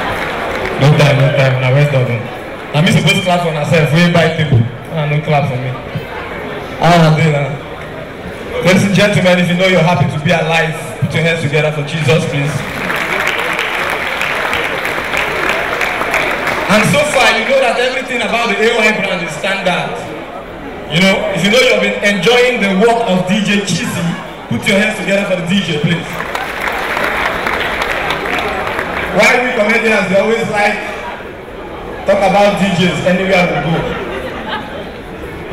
Long time, long time, na well done. Na me suppose clap for myself wey buy table, na no clap for me. How una dey na? Ladies and gentlemen, if you know you're happy to be alive, put your hands together for Jesus, please. And so far, you know that everything about the AY brand is standard. You know, if you know you've been enjoying the work of DJ Cheesy, Put your hands together for the DJ, please. Why we comedians they always like talk about DJs anywhere we go.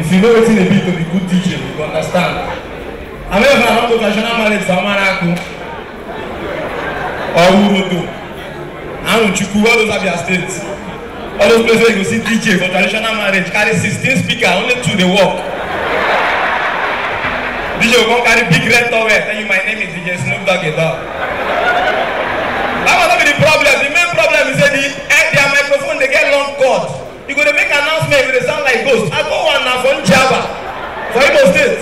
If you know what it be to be good DJ, you understand. I mean, if I want to traditional marriage for Amaraku or Urudu, I want you to all those are their states. all those places wey you go see dj for traditional marriage carry sixteen speaker only two dey work dj go come carry big red towel tell you my name is dj snoop dogg a dog that one no be the problem the main problem be say the eh, their microphone dey get long cord you go dey make announcement you go dey sound like ghost i go one na for njaba for imo state